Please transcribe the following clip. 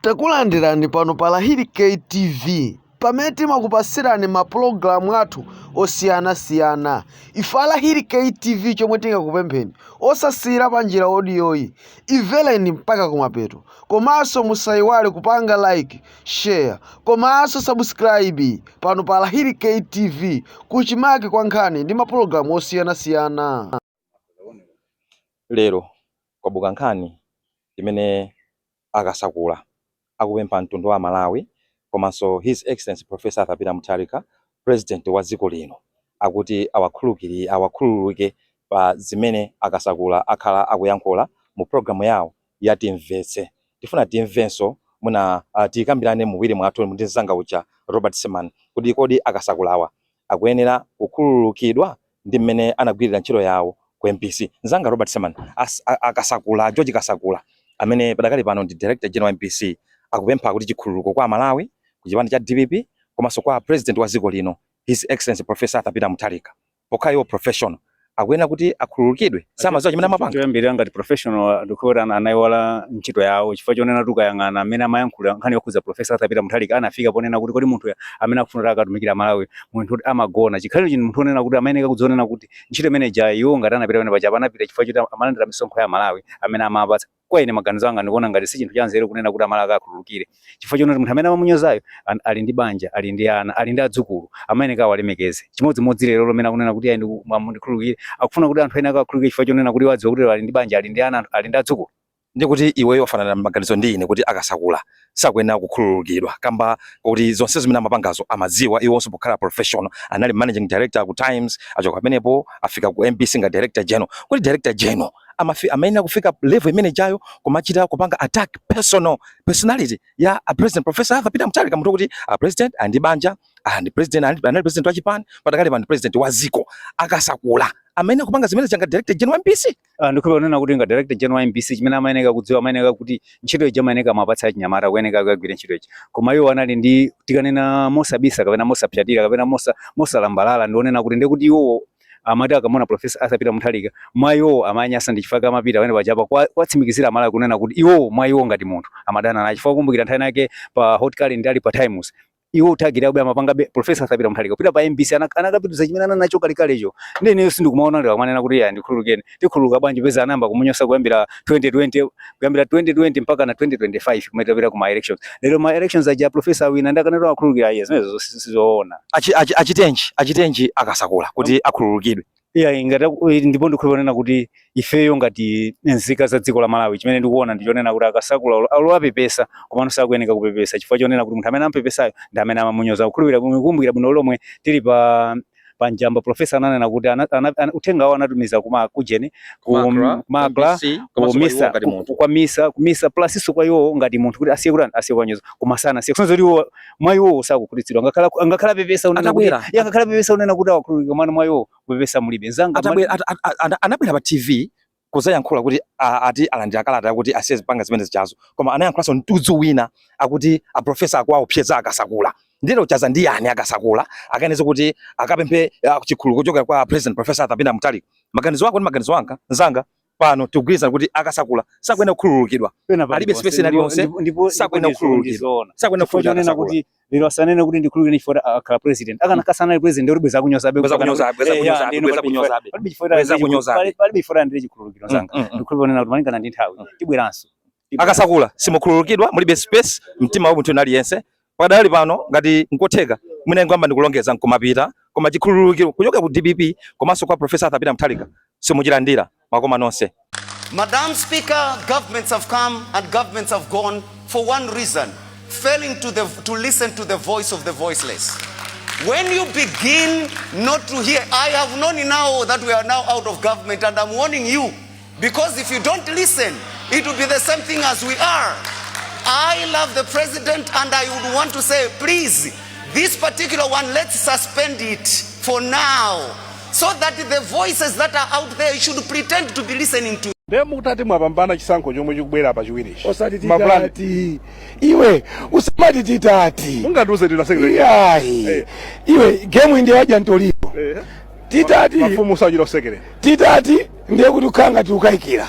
Takulandirani pano pa Lahiri K TV pamene timakupasirani ma program athu osiyana siyana ife a Lahiri K TV chomwe tingakupempheni osasiyira panjira odiyoyi imvereni mpaka kumapeto komanso musayiwale kupanga like share komanso subscribe pano pa Lahiri K TV kuchimake kwa nkhani ndi ma program osiyana siyana Lero kwabuka nkhani imene a Kasakula akupempha mtundu wa Amalawi komanso His Excellency Prof Arthur Peter Mutharika President wa dziko lino akuti awakhululukire pa zimene a Kasakula akhala akuyankhula mu program yawo ya timvetse. Tifuna timvenso mwina uh, tikambirane muwiri mwathu ndi mzanga uja Robert Seman kuti kodi akasakulawa akuyenera kukhululukidwa ndi mmene anagwirira ntchito yawo ku MBC. Mzanga Robert Seman, akasakula George Kasakula amene padakali pano ndi Director General MBC akupempha kuti chikhululuko kwa Amalawi ku chipani cha DPP komanso kwa president wa dziko lino His Excellency Professor Arthur Peter Mutharika. pokhala iwo professional akuyenera kuti akhululukidwe samadziwa chimene amapanga choyambirira ngati professional ndikuona ana- anaiwala ntchito yawo chifukwa chonena tukayang'ana mmene amayankhula nkhani yokhudza profesa Arthur Peter Mutharika anafika ponena kuti kodi munthu amene akufuna kuti akatumikire amalawi munthu woti amagona chikhaliro chino munthu onena kuti amayeneka kudzionena kuti ntchito imene ija iwo ngati anapita pamene paja panapita chifukwa choti amalandira misonkho ya amalawi amene amapatsa Kwa ine maganizo anga ndikuona ngati si chinthu chanzeru kunena kuti amalawi akawakhululukire chifukwa choti munthu amene amamunyozayo an- ali ndi banja ali ndi ana ali ndi adzukulu amayeneka awalemekeze chimodzimodzi lero lomene akunena kuti ayi ndiku- mwa- mundikhululukire akufuna kuti anthu ena akawakhululukire chifukwa chonena kuti wadziwa kuti lero ali ndi banja ali ndi ana ali ndi adzukulu ndiye kuti iweyo wafanana maganizo ndi ine kuti akasakula sakuyenera kukhululukidwa kamba koti zonse zimene amapangazo amadziwa iwonso pokhala professional anali managing director ku times achoka pamenepo afika ku mbc nga director general kodi director general amafi amayenera kufika level imene ijayo kumachita kupanga attack personal personality ya a president professor Arthur Peter Mutharika munthu woti a president ali ndi banja and president and anali president wa chipani padakali pano president wa dziko akasakula amayenera kupanga zimene zija nga director general wa mbc Ah, ndikuona kunena kuti nga director general wa mbc chimene amayeneka kudziwa amayeneka kuti ntchito ija amayeneka amapatsa achinyamata kuyeneka akagwire ntchito ija koma iwo anali ndi tikanena mosabisa kapena mosapsatira kapena mosa- mosalambalala ndi onena kuti ndiye kuti iwowo amati akamuona profesa Arthur Peter Mutharika mwa iwowo amanyasa ndi chifukwa amapita pamene pajapa kwa- kuwatsimikizira amalawi kunena kuti iwowo mwa iwo ngati munthu amadana naye chifukwa kumbukira nthawi yake pa hot current ali pa times iwo amathagirabe amapangabe professor Arthur Peter Mutharika kupita pa MBC anakapitiriza chimene anali nacho kalekalecho ndiye ineyo sindikumaona lero kumanena kuti ya ndikhululukeni tikhululuka bwanji poti anayamba kumunyoza kuyambira 2020 kuyambira 2020 mpaka na 2025 kumene tapita kuma elections lero ma elections aja professor awina ndakanero akhululukira iye zimenezo sizoona achitenji achitenji akasakula kuti akhululukidwe iyayi ngati aku- eh, ndipo ndikhulupirira kunena kuti ifeyo ngati nzika za dziko la malawi chimene ndikuona ndi chonena kuti a Kasakula olo- olo apepesa komano sakuyeneka kupepesa chifukwa chonena kuti munthu amene ampepesayo ndi amene amamunyoza kukumbukira bwino kumbukira bwino lomwe tili pa pa Njamba profesa ananena kuti ana, ana, ana, uthenga wawo anatumiza kuma kujeni ku Macra, Macra, MBC, komanso kwa iwo ku MISA ngati munthu. kwa MISA ku MISA plus-nso kwa iwo ngati munthu kuti asiye kutani asiye kuwanyoza koma sanasiye kusonyeza kuti iwo mwa iwowo sakukhutitsidwa ngakhale aku- ngakhale apepesa kunena kuti Atabwera. ya ngakhale apepesa kunena kuti awakhululukira koma mwa iwowo kupepesa mulibe nzanga mali- Atabwera- ata- ata- ata- anabwera pa tv kuzayankhula kuti a- ati alandira kalata yakuti asiye kupanga zimene zijazo koma anayankhulanso mtudzu wina akuti a profesa akuwaopseza a Kasakula nde lero ochaza ndi ndani a Kasakula akayenera kuti akapemphe ah, chikhululuko kuchokera kwa president professor Arthur Peter Mutharika maganizo ako ndi maganizo anga nzanga pano tikugwirizana kuti a Kasakula sakuyenera kukhululukidwa alibe space ina yonse sakuyenera kukhululukidwa sakuyenera kukhululukidwa kuti lero asanene kuti ndikhululukire chifukwa akhala president akanakhala sanali president bwenzi akunyozabe bwenzi akunyozabe palibe chifukwa alandire chikhululukiro nzanga ndikhulupirira kuti malingana ndi nthawi tibweranso a Kasakula simukhululukidwa mulibe space mumtima wa munthu aliyense pakadali pano ngati nkotheka mwina ingoyambani kulongeza nkumapita koma chikhululukiro kuchokera ku DPP komanso kwa Professor Arthur Peter Mutharika simuchilandira zikomo nonse Madam Speaker, governments have come and governments have gone for one reason, failing to, the, to listen to the voice of the voiceless. When you begin not to hear, I have known now that we are now out of government and I'm warning you, because if you don't listen it will be the same thing as we are i love the president and i would want to say please this particular one let's suspend it for now so that the voices that are out there should pretend to be listening to nde mukutati mwapambana chisankho chomwe chikubwera pa chiwirichi osati Mapulani. titati iwe usamati titati mungandiuze ndina secretary iyayi Eh. iwe gemu indi yadya ntolipo Eh. titati mafumu usachita usekere titati ndiye kuti tukhala ngati tukayikira